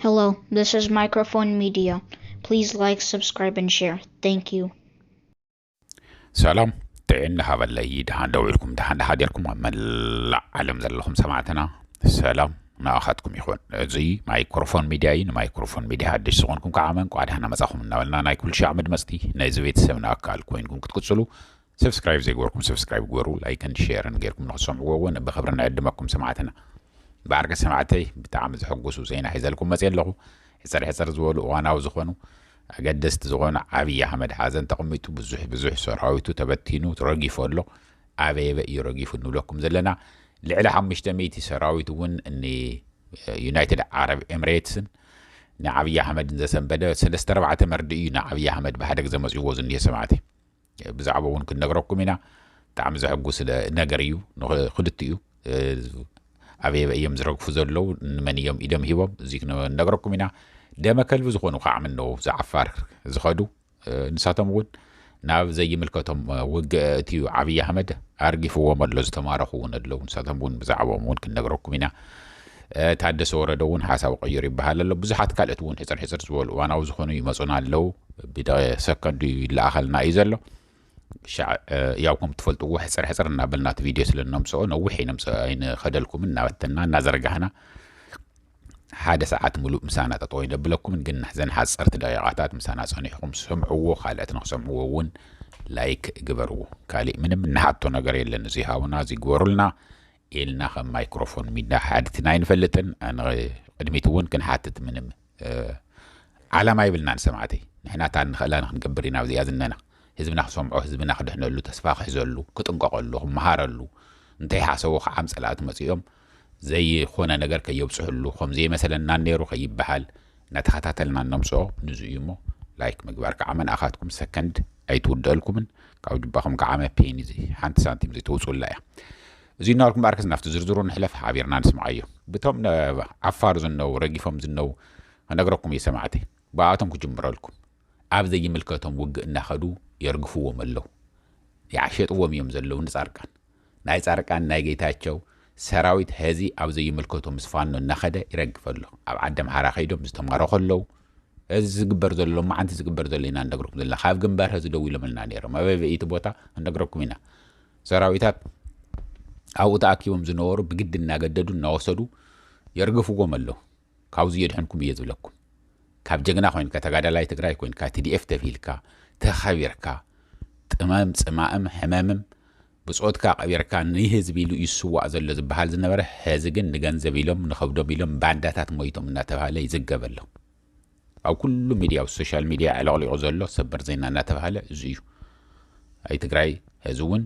Hello, this is Microphone Media. Please like, subscribe, and share. Thank you. ሰላም ጥዕና ሃበለይ ድሃን ደው ኢልኩም ድሃን ድሃጀርኩም ኣብ መላእ ዓለም ዘለኹም ሰማዕትና ሰላም ንኣኻትኩም ይኹን እዚ ማይክሮፎን ሚድያ እዩ ንማይክሮፎን ሚድያ ሓድሽ ዝኾንኩም ከዓ መንቋ ድሃና መፃኹም እናበልና ናይ ኩሉ ሻዕ መድመፅቲ ናይዚ ቤተሰብና ኣካል ኮይንኩም ክትቅፅሉ ሰብስክራይብ ዘይገበርኩም ሰብስክራይብ ግበሩ ላይክን ሼርን ጌርኩም ንክትሰምዕዎ እውን ብክብሪ ንዕድመኩም ሰማዕትና። ብዓርኪ ሰማዕተይ ብጣዕሚ ዘሐጉሱ ዜና ሒዘልኩም መፅየ ኣለኹ። ሕፅር ሕፅር ዝበሉ እዋናዊ ዝኾኑ ኣገደስቲ ዝኾኑ ዓብይ ኣህመድ ሓዘን ተቐሚጡ ብዙሕ ብዙሕ ሰራዊቱ ተበቲኑ ረጊፉ ኣሎ። ኣበየበ እዩ ረጊፉ ንብለኩም ዘለና ልዕሊ ሓሙሽተ ሚእቲ ሰራዊት እውን ንዩናይትድ ዓረብ ኤምሬትስን ንዓብይ ኣህመድን ዘሰንበደ ሰለስተ ኣርባዕተ መርድእ እዩ ንዓብይ ኣህመድ ብሓደ ግዘ መፅይዎ ዝኒሀ ሰማዕተይ። ብዛዕባኡ እውን ክንነግረኩም ኢና። ብጣዕሚ ዘሕጉስ ነገር እዩ ንክልቲኡ ኣበይ ኣበይ እዮም ዝረግፉ ዘለዉ ንመን እዮም ኢዶም ሂቦም እዚ ክንነግረኩም ኢና ደመ ከልቢ ዝኾኑ ከዓ ምነው ዝዓፋር ዝኸዱ ንሳቶም እውን ናብ ዘይምልከቶም ውግእ እቲ ዓብዪ ኣሕመድ ኣርጊፍዎም ኣሎ ዝተማረኹ እውን ኣለዉ ንሳቶም እውን ብዛዕባኦም እውን ክንነግረኩም ኢና ታደሰ ወረደ እውን ሓሳቡ ቀይሩ ይበሃል ኣሎ። ብዙሓት ካልኦት እውን ሕፅር ሕፅር ዝበሉ እዋናዊ ዝኾኑ ይመፁና ኣለው። ብደቐ ሰከንዱ ይለኣኸልና እዩ ዘሎ። ሻዕ ያው ከም ትፈልጥዎ ሕፅር ሕፅር እናበልና እቲ ቪድዮ ስለ እነምፅኦ ነዊሕ ኣይነምፅኦ ኣይንኸደልኩምን እናበተና እናዘርጋህና ሓደ ሰዓት ምሉእ ምሳና ጠጠው ይነብለኩምን ግን ናሕዘን ሓፀርቲ ደቂቓታት ምሳና ፀኒሕኹም ስምዕዎ ካልኦት ንክሰምዕዎ እውን ላይክ ግበርዎ። ካሊእ ምንም እንሓቶ ነገር የለን። እዚ ሃውና እዚ ግበሩልና ኢልና ከም ማይክሮፎን ሚዳ ሓድትና ኣይንፈልጥን ንቅድሚት ውን ክንሓትት ምንም ዓላማ የብልናን ሰማዕተይ ንሕና እታ እንኽእላ ንክንገብር ኢና ኣብዚኣ ዝነና ህዝብና ክሰምዖ ህዝብና ክድሕነሉ ተስፋ ክሕዘሉ ክጥንቀቀሉ ክመሃረሉ እንተይ ሓሰቦ ክዓም ፀላእቲ መፂኦም ዘይኾነ ነገር ከየብፅሕሉ ከምዘይመሰለናን ነይሩ ከይበሃል ናተኸታተልና ነምጽኦ ንዙ እዩ እሞ ላይክ ምግባር ከዓ መንኣኻትኩም ሰከንድ ኣይትውደኣልኩምን ካብ ጅባኹም ክዓመ ፔኒ እዚ ሓንቲ ሳንቲም ዘይተውጽኡላ እያ እዙይ እናበልኩም በኣርከስ ናብቲ ዝርዝሩ ንሕለፍ ሓቢርና ንስምዓዮ ብቶም ዓፋር ዝነው ረጊፎም ዝነው ክነግረኩም እዩ ሰማዕተይ ብኣቶም ክጅምረልኩም ኣብ ዘይምልከቶም ውግእ እናኸዱ የርግፍዎም ኣለው ይዓሸጥዎም እዮም ዘለው ንጻርቃን ናይ ፃርቃን ናይ ጌታቸው ሰራዊት ሀዚ ኣብ ዘይምልከቶ ምስ ፋኖ እናኸደ ይረግፍ ኣሎ ኣብ ዓደምሓራ ከይዶም ዝተማረኹ ኣለው ሀዚ ዝግበር ዘሎ ሎማዓንቲ ዝግበር ዘሎ ኢና እነግረኩም ዘለና ካብ ግንባር ሀዚ ደዊሎምልና ነይሮም ኣበበይ እቲ ቦታ እነግረኩም ኢና ሰራዊታት ኣብኡ ተኣኪቦም ዝነበሩ ብግዲ እናገደዱ እናወሰዱ የርግፍዎም ኣለው ካብዙይ የድሕንኩም እየ ዝብለኩም ካብ ጀግና ኮይንካ ተጋዳላይ ትግራይ ኮይንካ ቲዲኤፍ ተብሂልካ ተኸቢርካ ጥመም ፅማእም ሕመምም ብፆትካ ቀቢርካ ንህዝቢ ኢሉ እዩ ዝስዋእ ዘሎ ዝበሃል ዝነበረ ሕዚ ግን ንገንዘብ ኢሎም ንኸብዶም ኢሎም ባንዳታት ሞይቶም እናተባህለ ይዝገበሎም ኣብ ኩሉ ሚድያ ኣብ ሶሻል ሚድያ ኣዕለቕሊቑ ዘሎ ሰበር ዜና እናተብሃለ እዙይ እዩ። ኣይ ትግራይ ሀዚ እውን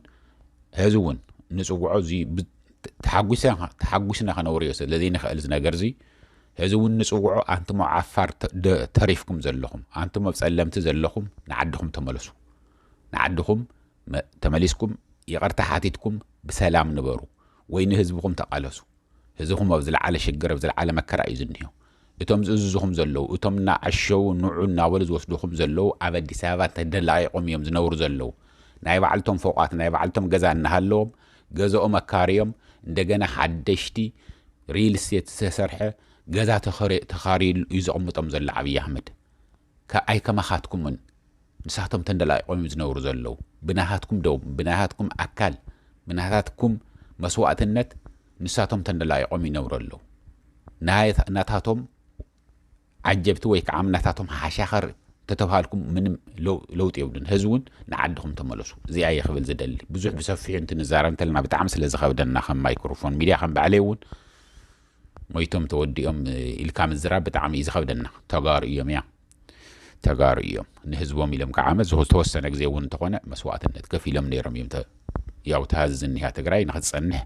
ሀዚ እውን ንፅውዖ እዚ ተሓጒስና ከነውርዮ ስለዘይንኽእል ዝነገር እዚ ሀዚ እውን ንፅውዖ ኣንትሞ ዓፋር ተሪፍኩም ዘለኹም ኣንትሞ ኣብ ፀለምቲ ዘለኹም ንዓድኹም ተመለሱ ንዓድኹም ተመሊስኩም ይቕርታ ሓቲትኩም ብሰላም ንበሩ ወይ ንህዝብኹም ተቓለሱ ህዝብኹም ኣብ ዝለዓለ ሽግር ኣብ ዝለዓለ መከራ እዩ ዝኒሆ። እቶም ዝእዝዙኹም ዘለዉ፣ እቶም እናዓሸዉ ንዑ እናበሉ ዝወስዱኹም ዘለዉ ኣብ ኣዲስ ኣበባ ተደላቒቖም እዮም ዝነብሩ ዘለዉ። ናይ ባዕልቶም ፎቓት ናይ ባዕልቶም ገዛ እናሃለዎም ገዘኦም ኣካርዮም እንደገና ሓደሽቲ ሪል ስቴት ዝተሰርሐ ገዛ ተኻርዩሉ እዩ ዘቕምጦም ዘሎ ዓብዪ ኣሕመድ። ከ ኣይከማኻትኩምን ንሳቶም ተንደላቂቆም እዮም ዝነብሩ ዘለዉ ብናሃትኩም ደም ብናሃትኩም ኣካል ብናታትኩም መስዋእትነት ንሳቶም ተንደላቂቆም ይነብሩ ኣለዉ ናይ ናታቶም ዓጀብቲ ወይ ክዓ ናታቶም ሓሻኸር ተተብሃልኩም ምንም ለውጢ የብሉን ሀዚ እውን ንዓድኹም ተመለሱ እዚኣ እየ ክብል ዝደሊ ብዙሕ ብሰፊሑ እንትንዛረብ እንተለና ብጣዕሚ ስለ ዝኸብደና ከም ማይክሮፎን ሚድያ ከም ባዕለይ እውን ሞይቶም ተወዲኦም ኢልካ ምዝራብ ብጣዕሚ እዩ ዝኸብደና ተጋሩ እዮም እያ ተጋሩ እዮም ንህዝቦም ኢሎም ከዓ ዓመት ዝተወሰነ ግዜ እውን እንተኾነ መስዋእትነት ከፊሎም ነይሮም እዮም ያው ተሃዚ ዝኒሃ ትግራይ ንክትፀንሕ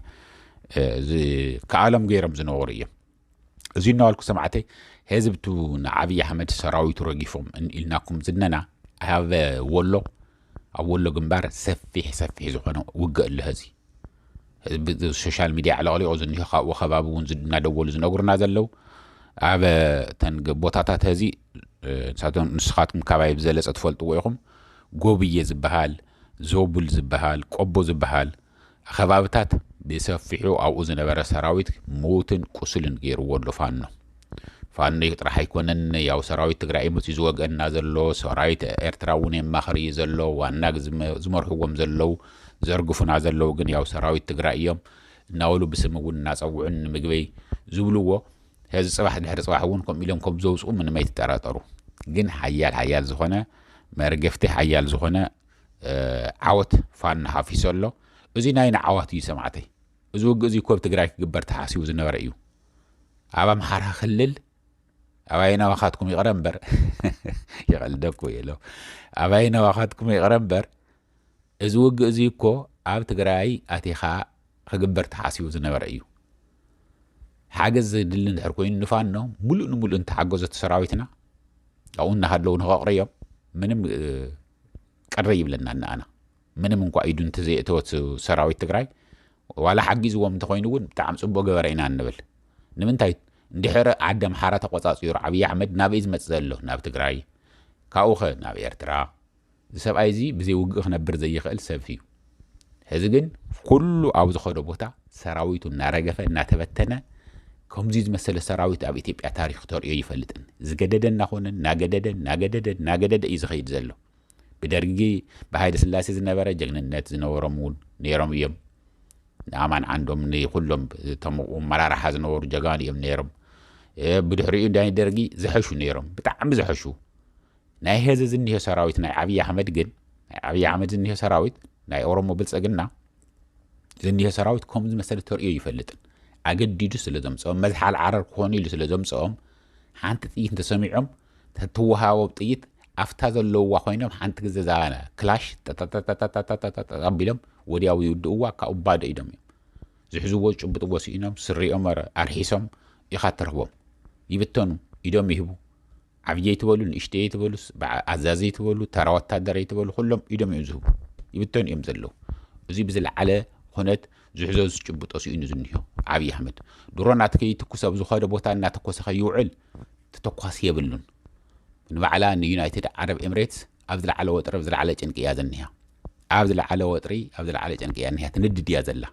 ዝከኣሎም ገይሮም ዝነበሩ እዮም እዚ እናዋልኩ ሰማዕተይ ህዝብቱ ንዓብዪ ኣሕመድ ሰራዊቱ ረጊፎም ኢልናኩም ዝነና ሃበ ወሎ ኣብ ወሎ ግንባር ሰፊሕ ሰፊሕ ዝኾነ ውግእ ኣሎ ሀዚ። ህዝቢ ሶሻል ሚድያ ኣዕለቕሊቑ ዝኒሆ ካብኡ ከባቢ እውን እናደወሉ ዝነግሩና ዘለው ኣብ ተን ቦታታት ሀዚ ንሳቶም ንስኻትኩም ካባይ ብዘለፀ ትፈልጥዎ ኢኹም ጎብዬ ዝበሃል ዞቡል ዝበሃል ቆቦ ዝበሃል ኸባብታት ብሰፊሑ ኣብኡ ዝነበረ ሰራዊት ምዉትን ቁሱልን ገይርዎ ኣሎ ፋኖ። ፋኖ ጥራሕ ኣይኮነን ያው ሰራዊት ትግራይ መፅዩ ዝወገኣና ዘሎ ሰራዊት ኤርትራ እዉን የማኽር እዩ ዘሎ ዋና ዝመርሕዎም ዘለዉ ዘርግፉና ዘለዉ ግን ያው ሰራዊት ትግራይ እዮም እናበሉ ብስም እዉን እናፀዉዑን ንምግበይ ዝብልዎ ሐዚ ፅባሕ ድሕሪ ፅባሕ እዉን ከምኡ ኢሎም ከምዘዉፅኡ ምንም ኣይትጠራጠሩ ግን ሓያል ሓያል ዝኾነ መርገፍቲ ሓያል ዝኾነ ዓወት ፋኖ ሃፊሶ ኣሎ እዚ ናይ ንዓዋት እዩ ሰማዕተይ እዚ ውግእ እዚ እኮ ኣብ ትግራይ ክግበር ተሓሲቡ ዝነበረ እዩ ኣብ ኣምሓራ ክልል ኣብ ኣየናዋኻትኩም ይቕረ እምበር ይቐልደኩ ኢሎ ኣብ ኣየናዋኻትኩም ይቕረ እምበር እዚ ውግእ እዚ እኮ ኣብ ትግራይ ኣቲኻ ክግበር ተሓሲቡ ዝነበረ እዩ ሓገዝ ዘድሊ እንድሕር ኮይኑ ንፋኖ ሙሉእ ንሙሉእ እንተሓገዘቲ ሰራዊትና ኣብኡ እናሃለዉ ንኸቕርዮም ምንም ቅር ይብለና ንኣና ምንም እንኳ ኢዱ እንተዘየእተወት ሰራዊት ትግራይ ዋላ ሓጊዝዎም እንተኾይኑ እውን ብጣዕሚ ፅቡቅ ገበረ ኢና እንብል ንምንታይ እንድሕር ዓዲ ኣምሓራ ተቆፃፂሩ ዓብዪ ኣሕመድ ናበይ ዝመፅ ዘሎ ናብ ትግራይ ካብኡኸ ናብ ኤርትራ እዚ ሰብኣይ እዚ ብዘይ ውግእ ክነብር ዘይኽእል ሰብፍ እዩ ሕዚ ግን ኩሉ ኣብ ዝኸዶ ቦታ ሰራዊቱ እናረገፈ እናተበተነ ከምዚ ዝመሰለ ሰራዊት ኣብ ኢትዮጵያ ታሪክ ተርእዮ ይፈልጥን ዝገደደ እናኾነ እናገደደ እናገደደ እናገደደ እዩ ዝኸይድ ዘሎ ብደርጊ ብሃይለ ስላሴ ዝነበረ ጀግንነት ዝነበሮም እውን ነይሮም እዮም ንኣማን ዓንዶም ንኩሎም እቶም መራርሓ ዝነበሩ ጀጋኑ እዮም ነይሮም ብድሕሪኡ ናይ ደርጊ ዝሐሹ ነይሮም ብጣዕሚ ዝሐሹ ናይ ሀዚ ዝኒሆ ሰራዊት ናይ ዓብይ ኣህመድ ግን ናይ ዓብይ ኣህመድ ዝኒሆ ሰራዊት ናይ ኦሮሞ ብልፅግና ዝኒሆ ሰራዊት ከምኡ ዝመሰለ ተርእዮ ይፈልጥን ኣገዲዱ ስለ ዘምፅኦም መዝሓል ዓረር ክኾኑ ኢሉ ስለ ዘምፅኦም ሓንቲ ጥይት እንተሰሚዖም ተትወሃቦም ጥይት ኣፍታ ዘለውዋ ኮይኖም ሓንቲ ግዜ ዛባና ክላሽ ጠጠጠጠጠጠጠጠጠ ኣቢሎም ወዲያው ይውድእዋ ካብኡ ባዶ ኢዶም እዮም ዝሕዝዎ ዝጭብጥዎ ስኢኖም ስሪኦም ኣረ- ኣርሒሶም ኢኻ ተርህቦም ይብተኑ ኢዶም ይህቡ ዓብዪ ኣይትበሉ ንእሽተይ ኣይትበሉ በዓ- ኣዛዚ ኣይትበሉ ተራ ወታደር ኣይትበሉ ኩሎም ኢዶም እዮም ዝህቡ ይብተኑ እዮም ዘለዉ እዚ ብዝለዓለ ኩነት ዝሕዞ ዝጭብጦ ስኢኑ ዝኒሆ ዓብዪ ኣሕመድ ድሮናት ከይትኩስ ኣብ ዝኾነ ቦታ እናተኮሰ ከይውዕል ተተኳሲ የብሉን ንባዕላ ንዩናይትድ ዓረብ ኤምሬትስ ኣብ ዝለዓለ ወጥሪ ኣብ ዝለዓለ ጭንቂ እያ ዝኒሃ ኣብ ዝለዓለ ወጥሪ ኣብ ዝለዓለ ጭንቂ እያ እኒሃ ትንድድ እያ ዘላ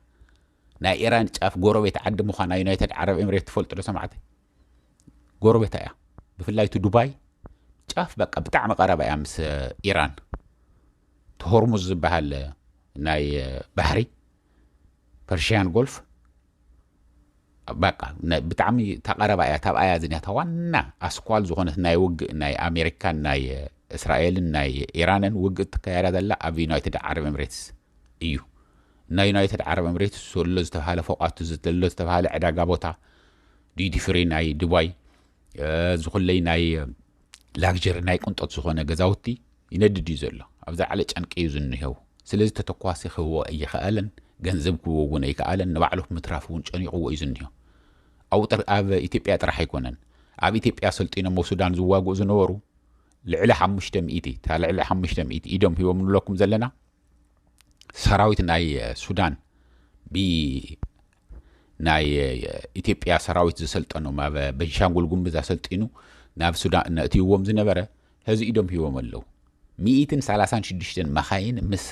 ናይ ኢራን ጫፍ ጎረቤት ዓዲ ምዃና ዩናይትድ ዓረብ ኤምሬት ትፈልጡ ዶ ሰማዕቲ ጎረቤታ እያ ብፍላይ እቲ ዱባይ ጫፍ በቃ ብጣዕሚ ቀረባ እያ ምስ ኢራን እቲ ሆርሙዝ ዝበሃል ናይ ባሕሪ ፐርሽያን ጎልፍ በቃ ብጣዕሚ ተቐረባ እያ ታብኣ እያ ዝኒያታ ዋና ኣስኳል ዝኾነት ናይ ውግእ ናይ ኣሜሪካን ናይ እስራኤልን ናይ ኢራንን ውግእ ትካየዳ ዘላ ኣብ ዩናይትድ ዓረብ ኤምሬትስ እዩ። ናይ ዩናይትድ ዓረብ ኤምሬትስ ሶሎ ዝተብሃለ ፎቓቱ ዘሎ ዝተብሃለ ዕዳጋ ቦታ፣ ዲዩቲ ፍሪ ናይ ዱባይ፣ ዝኹለይ ናይ ላግጀሪ ናይ ቅንጦት ዝኾነ ገዛውቲ ይነድድ እዩ ዘሎ። ኣብ ዝለዓለ ጨንቂ እዩ ዝንሄው። ስለዚ ተተኳሲ ክህቦ ኣይኸኣለን፣ ገንዘብ ክህቦ እውን ኣይከኣለን፣ ንባዕሉ ምትራፍ እውን ጨኒቑዎ እዩ ዝንሄው። ኣብኡ ኣብ ኢትዮጵያ ጥራሕ ኣይኮነን፣ ኣብ ኢትዮጵያ ሰልጢኖም ኣብ ሱዳን ዝዋግኡ ዝነበሩ ልዕሊ ሓሙሽተ ሚእቲ እታ ልዕሊ ሓሙሽተ ሚእቲ ኢዶም ሂቦም ንብለኩም ዘለና ሰራዊት ናይ ሱዳን ብናይ ኢትዮጵያ ሰራዊት ዘሰልጠኖም ኣብ በንሻንጉል ጉምዝ ኣሰልጢኑ ናብ ሱዳን እነእትይዎም ዝነበረ ሕዚ ኢዶም ሂቦም ኣለዉ ሚኢትን ሰላሳን ሽዱሽተን መኻይን ምስ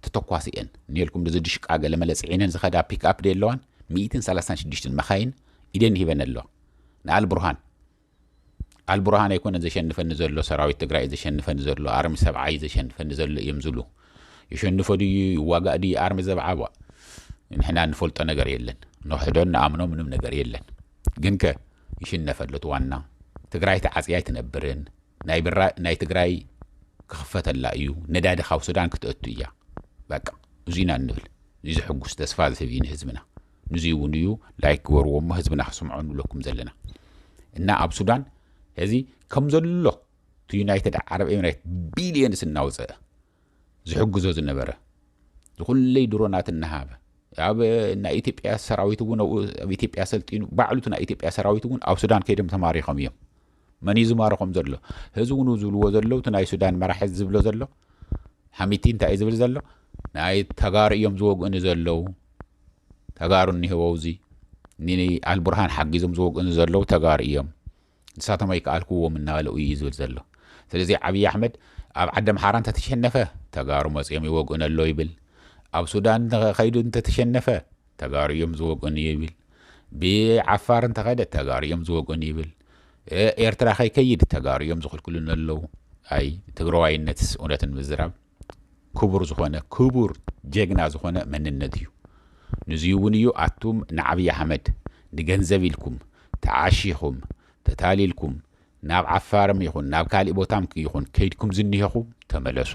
ተተኳሲ እየን ንልኩም ድዚ ድሽቃ ገለመለ ፅዒነን ዝኸዳ ፒክኣፕ ደየለዋን ሚኢትን ሰላሳን ሽዱሽተን መኻይን ኢደን ሂበን ኣለዋ ንኣል ብርሃን ኣልቡርሃን ኣይኮነን ዘሸንፈኒ ዘሎ ሰራዊት ትግራይ ዘሸንፈኒ ዘሎ ኣርሚ ሰብዓ እዩ ዘሸንፈኒ ዘሎ እዮም ዝብሉ ይሸንፎ ድዩ ይዋጋእ ድዩ ኣርሚ ዘብዓ ቧ ንሕና ንፈልጦ ነገር የለን ንክሕዶን ንኣምኖ ምንም ነገር የለን ግን ከ ይሽነፈሉ እቲ ዋና ትግራይ ተዓፅያ ኣይትነብርን ናይ ትግራይ ክኽፈተላ እዩ ነዳዲ ካብ ሱዳን ክትእቱ እያ በቃ እዙይ ኢና እንብል እዚ ዝሕጉስ ተስፋ ዝህብ እዩ ንህዝብና ንዙይ እውን እዩ ላይክ ግበርዎ እሞ ህዝብና ክስምዖ ንብለኩም ዘለና እና ኣብ ሱዳን እዚ ከም ዘሎ እቲ ዩናይትድ ዓረብ ኤምሬት ቢልዮንስ እናውፅአ ዝሕግዞ ዝነበረ ዝኩለይ ድሮናት እናሃበ ኣብ ናይ ኢትዮጵያ ሰራዊት እውን ኣብ ኢትዮጵያ ሰልጢኑ ባዕሉቲ ናይ ኢትዮጵያ ሰራዊት እውን ኣብ ሱዳን ከይዶም ተማሪኾም እዮም መን እዩ ዝማርኾም ዘሎ ህዚ እውን ዝብልዎ ዘለዉ እቲ ናይ ሱዳን መራሒ ዝብሎ ዘሎ ሓሚቲ እንታይ እዩ ዝብል ዘሎ ናይ ተጋሩ እዮም ዝወግእኒ ዘለዉ ተጋሩ እኒሀው ኣብዚ ንኣልቡርሃን ሓጊዞም ዝወግእኑ ዘለዉ ተጋሩ እዮም ንሳቶም ኣይከኣልክዎም እናበለ እዩ ዝብል ዘሎ ስለዚ ዓብዪ ኣሕመድ ኣብ ዓዲ ኣምሓራ እንተተሸነፈ ተጋሩ መፅኦም ይወግእኑ ኣለዉ ይብል ኣብ ሱዳን ከይዱ እንተተሸነፈ ተጋሩ እዮም ዝወግእኑ ይብል ብዓፋር እንተኸደ ተጋሩ እዮም ዝወግእኑ ይብል ኤርትራ ከይከይድ ተጋሩ እዮም ዝኽልክሉን ኣለዉ ኣይ ትግራዋይነትስ እውነትን ምዝራብ ክቡር ዝኾነ ክቡር ጀግና ዝኾነ መንነት እዩ ንዙይ እውን እዩ ኣቱም ንዓብይ ኣሕመድ ንገንዘብ ኢልኩም ተዓሺኹም ተታሊልኩም ናብ ዓፋርም ይኹን ናብ ካሊእ ቦታም ይኹን ከይድኩም ዝኒሀኹም ተመለሱ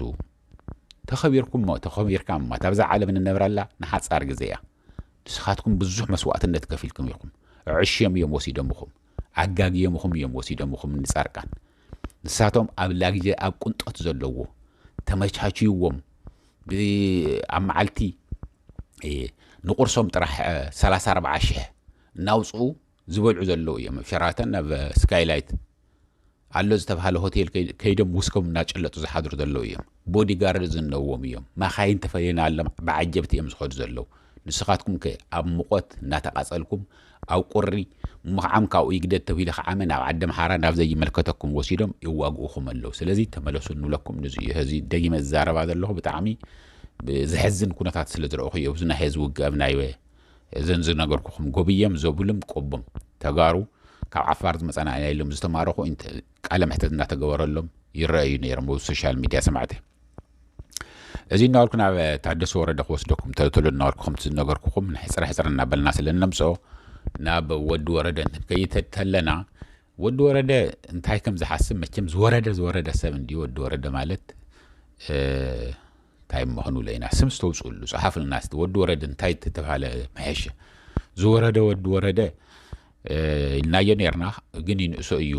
ተኸቢርኩም እሞ ተኸቢርካ እማ ኣብዛ ዓለም ንነብረላ ንሓፃር ግዜ እያ ንስኻትኩም ብዙሕ መስዋእትነት ከፊልኩም ኢኹም ዕሽም እዮም ወሲደምኹም ኣጋግዮምኹም እዮም ወሲዶምኹም ንጻርቃን ንሳቶም ኣብ ላግዜ ኣብ ቁንጦት ዘለዎ ተመቻችይዎም ብ ኣብ መዓልቲ ንቁርሶም ጥራሕ ሰላሳ ኣርብዓ ሽሕ እናውጽኡ ዝበልዑ ዘለዉ እዮም ሸራተን ናብ ስካይላይት ኣሎ ዝተብሃለ ሆቴል ከይዶም ውስኮም እናጨለጡ ዝሓድሩ ዘለዉ እዮም። ቦዲ ጋርድ ዝነዎም እዮም። ማካይን ተፈልየናሎም ብዓጀብቲ እዮም ዝኸዱ ዘለዉ። ንስኻትኩም ከ ኣብ ሙቖት እናተቓፀልኩም ኣብ ቁሪ ምኽዓም ካብኡ ይግደድ ተብሂሉ ክዓመ ናብ ዓደምሓራ ናብ ዘይምልከተኩም ወሲዶም የዋግኡኹም ኣለዉ። ስለዚ ተመለሱ እንብለኩም ንዙይ እዩ። ሀዚ ደጊመ ዝዛረባ ዘለኹ ብጣዕሚ ዘሕዝን ኩነታት ስለ ዝረእኹ እዩ። እብዚ ናይ ሀዚ ውግእ ኣብ ናይ እዘን ዝነገርኩኹም ጎብዬም ዞብልም ቆቦም ተጋሩ ካብ ዓፋር ዝመፃና ኢና ኢሎም ዝተማረኹ ኢንተ ቃለ መሕተት እናተገበረሎም ይረኣዩ ነይሮም ኣብ ሶሻል ሚድያ ሰማዕቲ እዚ እናበልኩ ናብ ታደሰ ወረደ ክወስደኩም ተልተሎ እናበልኩ ከምቲ ዝነገርኩኹም ሕፅረ ሕፅረ እናበልና ስለ እነምፅኦ ናብ ወዲ ወረደ እንትንከይድ ከለና ወዲ ወረደ እንታይ ከም ዝሓስብ መቸም ዝወረደ ዝወረደ ሰብ እንዲ ወዲ ወረደ ማለት እንታይ እሞ ክንብሎ ኢና ስም ዝተውጽእሉ ጽሓፍልና እስቲ ወዲ ወረደ እንታይ ተተባህለ ምሐሸ ዝወረደ ወዲ ወረደ ኢልናዮ ነርና ግን ይንእሶ እዩ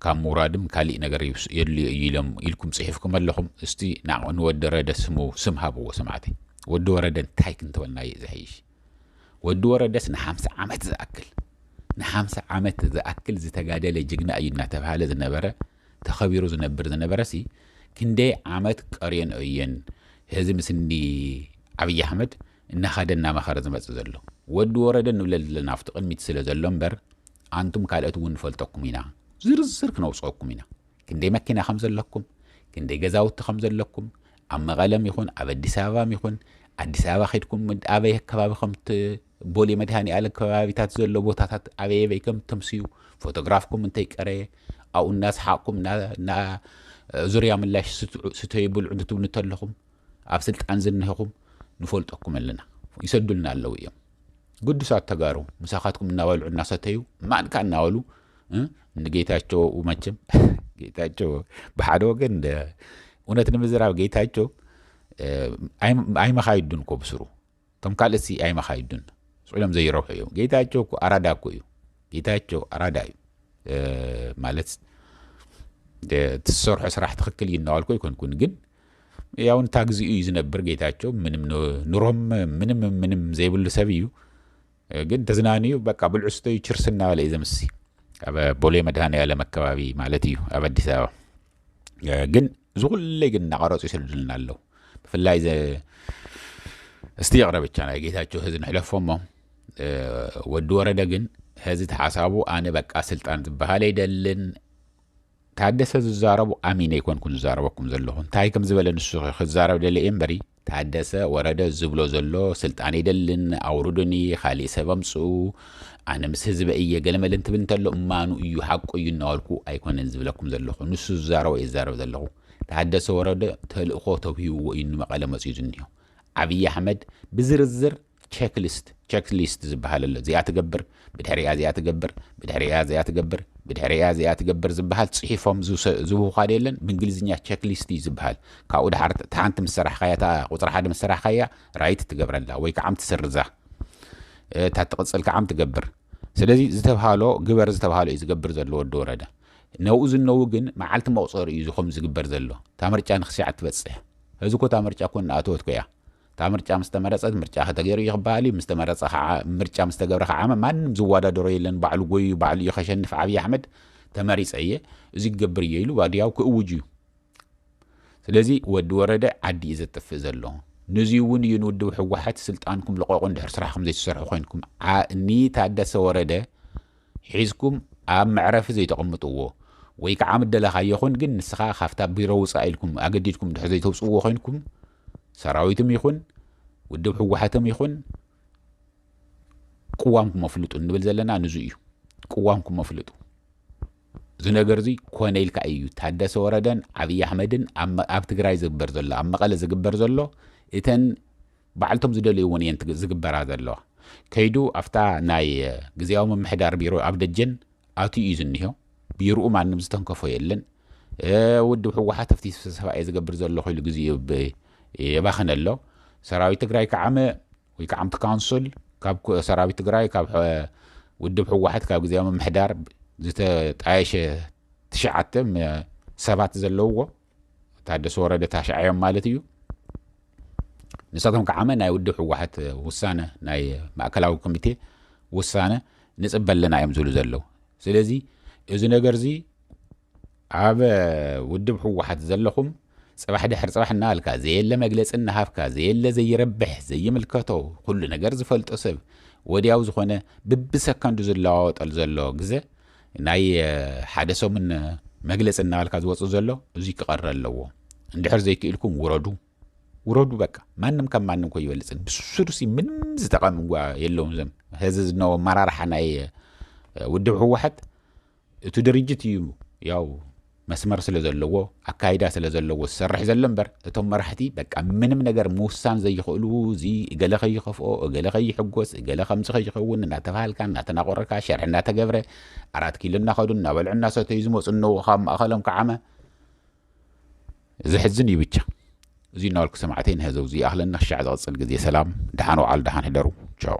ካብ ምውራድም ካሊእ ነገር የድልዮ እዩ ኢሎም ኢልኩም ጽሒፍኩም ኣለኹም እስቲ ንወዲ ወረደ ስሙ ስም ሃብዎ ሰማዕተይ ወዲ ወረደ እንታይ ክንተበልና እዩ ዝሐይሽ ወዲ ወረደስ ንሓምሳ ዓመት ዝኣክል ንሓምሳ ዓመት ዝኣክል ዝተጋደለ ጅግና እዩ እናተባህለ ዝነበረ ተኸቢሩ ዝነብር ዝነበረሲ ክንደይ ዓመት ቀርየንኦ እየን ህዚ ምስንዲ ዓብይ ኣሕመድ እናኸደ እናመኸረ ዝመፅእ ዘሎ ወዲ ወረደ ንብለል ዘለና ኣብቲ ቅድሚት ስለ ዘሎ እምበር ኣንቱም ካልኦት እውን ንፈልጠኩም ኢና ዝርዝር ክነውፀኩም ኢና ክንደይ መኪና ከም ዘለኩም ክንደይ ገዛውቲ ከም ዘለኩም ኣብ መቐለም ይኹን ኣብ ኣዲስ ኣበባም ይኹን ኣዲስ ኣበባ ኸድኩም ኣበይ ኣከባቢ ከምት ቦሌ መድሃኒኣለም ከባቢታት ዘሎ ቦታታት ኣበየበይ ከም ተምስዩ ፎቶግራፍኩም እንተይቀረየ ኣብኡ እናሰሓቕኩም እና ዙርያ ምላሽ ስተዩ ብልዑ ንትብሉ እንተለኹም ኣብ ስልጣን ዝንህኹም ንፈልጠኩም ኣለና ይሰዱልና ኣለዉ እዮም ግዱሳት ተጋሩ ምሳኻትኩም እናበልዑ እናሰተዩ ማንካ እናበሉ ንጌታቸው መቸም ጌታቸው ብሓደ ወገን እውነት ንምዝራብ ጌታቸው ኣይመኻይዱን እኮ ብስሩ እቶም ካልእት ሲ ኣይመኻይዱን ስዒሎም ዘይረብሑ እዮም ጌታቸው እኮ ኣራዳ እኮ እዩ ጌታቸው ኣራዳ እዩ ማለት ትሰርሖ ስራሕ ትክክል እዩ እናዋልኮ ይኮንኩን ግን ያው እንታ ግዚኡ እዩ ዝነብር ጌታቸው ምንም ኑሮም ምንም ምንም ዘይብሉ ሰብ እዩ ግን ተዝናንዩ በቃ ብልዑ ስተዩ ችርስ እናበለ እዩ ዘምሲ ኣብ ቦሌ መድሃኒኣለም ኣከባቢ ማለት እዩ ኣብ ኣዲስ ኣበባ ግን እዚ ኩለይ ግን እናቐረፁ ይስልድልና ኣለዉ ብፍላይ እስቲ ይቕረብ ብቻ ናይ ጌታቸው ህዚ ንሕለፎ እሞ ወዲ ወረደ ግን ህዚ ተሓሳቡ ኣነ በቃ ስልጣን ዝበሃል ኣይደልን ታደሰ ዝዛረቦ ኣሚነ ኣይኮንኩን ዝዛረበኩም ዘለኹ እንታይ ከም ዝበለ ንሱ ክዛረብ ደለ እየ እምበሪ ታደሰ ወረደ ዝብሎ ዘሎ ስልጣን ኣይደልን ኣውርዱኒ ካሊእ ሰብ ኣምፅኡ ኣነ ምስ ህዝበ እየ ገለመለ እንትብል እንተሎ እማኑ እዩ ሓቁ እዩ እናበልኩ ኣይኮነን ዝብለኩም ዘለኹ ንሱ ዝዛረቦ እየ ዝዛረብ ዘለኹ ታደሰ ወረደ ተልእኾ ተውሂብዎ እዩ ንመቐለ መፅኡ ዝኒሆ ዓብዪ ኣሕመድ ብዝርዝር ቸክሊስት፣ Checklist፣ ዝበሃል ኣሎ። እዚኣ ትገብር፣ ብድሕሪኣ እዚኣ ትገብር፣ ብድሕሪኣ እዚኣ ትገብር፣ ብድሕሪኣ እዚኣ ትገብር ዝበሃል ጽሒፎም ዝህቡኻ ዶ የለን? ብእንግሊዝኛ ቸክሊስት እዩ ዝበሃል። ካብኡ ደሓር እታ ሓንቲ ምስ ሰራሕካያ፣ እታ ቁጽሪ ሓደ ምስ ሰራሕካያ ራይት ትገብረላ ወይ ከዓም ትስርዛ። እታ እትቕጽል ከዓም ትገብር። ስለዚ ዝተብሃሎ ግበር ዝተብሃሎ እዩ ዝገብር ዘሎ ወዲ ወረደ። ነብኡ ዝነው ግን መዓልቲ መቑጸሪ እዩ እዚ ከምኡ ዝግበር ዘሎ። እታ ምርጫ ንክስያዕ ትበጽሕ። ሕዚ እኮ እታ ምርጫ እኮ እናኣተወት እኮ እያ። እታ ምርጫ ምስ ተመረጸት ምርጫ ከተገይሩ እዩ ክበሃል እዩ፣ ምስ ተመረጸ ከኣ ምርጫ ምስ ተገብረ ከኣ ማንም ዝወዳደሮ የለን ባዕሉ ጎይዩ ባዕሉ እዩ ከሸንፍ ዓብይ ኣሕመድ ተመሪጸ እየ እዚ ክገብር እየ ኢሉ ዋድያው ክእውጅ እዩ። ስለዚ ወዲ ወረደ ዓዲ እዩ ዘጥፍእ ዘሎ። ነዚ እውን እዩ ንውድብ ህወሓት ስልጣንኩም ልቐቑ እንድሕር ስራሕኩም ዘይትሰርሑ ኮይንኩም ንታደሰ ወረደ ሒዝኩም ኣብ መዕረፊ ዘይተቐምጥዎ ወይ ከዓ ምደለኻዮ ኹን ግን ንስኻ ካብታ ቢሮ ውፃእ ኢልኩም ኣገዲድኩም እንድሕር ዘይተውፅእዎ ኮይንኩም ሰራዊትም ይኹን ውድብ ህወሓትም ይኹን ቅዋምኩም ኣፍልጡ እንብል ዘለና ንዙ እዩ። ቅዋምኩም ኣፍልጡ። እዚ ነገር እዚ ኮነ ኢልካ እዩ ታደሰ ወረደን ዓብዪ ኣሕመድን ኣብ ትግራይ ዝግበር ዘሎ ኣብ መቐለ ዝግበር ዘሎ እተን ባዕልቶም ዝደልይዎን እየን ዝግበራ ዘለዋ ከይዱ ኣብታ ናይ ግዜያዊ ምምሕዳር ቢሮ ኣብ ደጀን ኣትዩ እዩ ዝኒሆ ቢሩኡ ማንም ዝተንከፎ የለን ውድብ ሕወሓት ኣብቲ ስብሰባ እየ ዝገብር ዘለኹ ኢሉ ግዜ የባኽን ኣሎ ሰራዊት ትግራይ ከዓመ ወይ ከዓ ኣብቲ ካውንስል ካብ ሰራዊት ትግራይ ካብ ውድብ ሕወሓት ካብ ግዜያዊ ምምሕዳር ዝተጣየሸ ትሽዓተ ሰባት ዘለውዎ ታደሰ ወረደ ታሽዓዮም ማለት እዩ ንሳቶም ከዓመ ናይ ውድብ ህወሓት ውሳነ ናይ ማእከላዊ ኮሚቴ ውሳነ ንፅበ ኣለና እዮም ዝብሉ ዘለዉ ስለዚ እዚ ነገር እዚ ኣብ ውድብ ህወሓት ዘለኹም ፅባሕ ድሕር ፅባሕ እናበልካ ዘየለ መግለፂ እናሃብካ ዘየለ ዘይረብሕ ዘይምልከቶ ኩሉ ነገር ዝፈልጦ ሰብ ወዲያው ዝኾነ ብብሰከንዱ ዝለዋወጠል ዘሎ ግዘ ናይ ሓደ ሰሙን መግለጺ እናበልካ ዝወጽእ ዘሎ እዙይ ክቐረ ኣለዎ። እንድሕር ዘይክኢልኩም ውረዱ ውረዱ በቃ ማንም ካብ ማንም ኮ ይበልጽን ብሱሩሲ ምንም ዝጠቐም እጓ የለውም ዘም ህዚ ዝነዎ ኣመራርሓ ናይ ውድብ ህወሓት እቲ ድርጅት እዩ ያው መስመር ስለ ዘለዎ ኣካይዳ ስለ ዘለዎ ዝሰርሕ ዘሎ እምበር እቶም መራሕቲ በቃ ምንም ነገር ምውሳን ዘይኽእሉ እዚ እገለ ከይኸፍኦ እገለ ከይሕጎስ እገለ ከምዚ ከይኸውን እናተባሃልካ እናተናቆረካ ሸርሒ እናተገብረ ኣራት ኪሎ እናኸዱ እናበልዑ እናሰተዩ ዝመፁ እነዎ ካብ ማእኸሎም ከዓመ ዘሕዝን እዩ ብቻ እዚ እናበልኩ ሰማዕተይ ንህዘው እዚ ኣኽለና ክሻዕ ዝቕፅል ግዜ ሰላም ደሓን ውዓሉ ደሓን ሕደሩ ቻው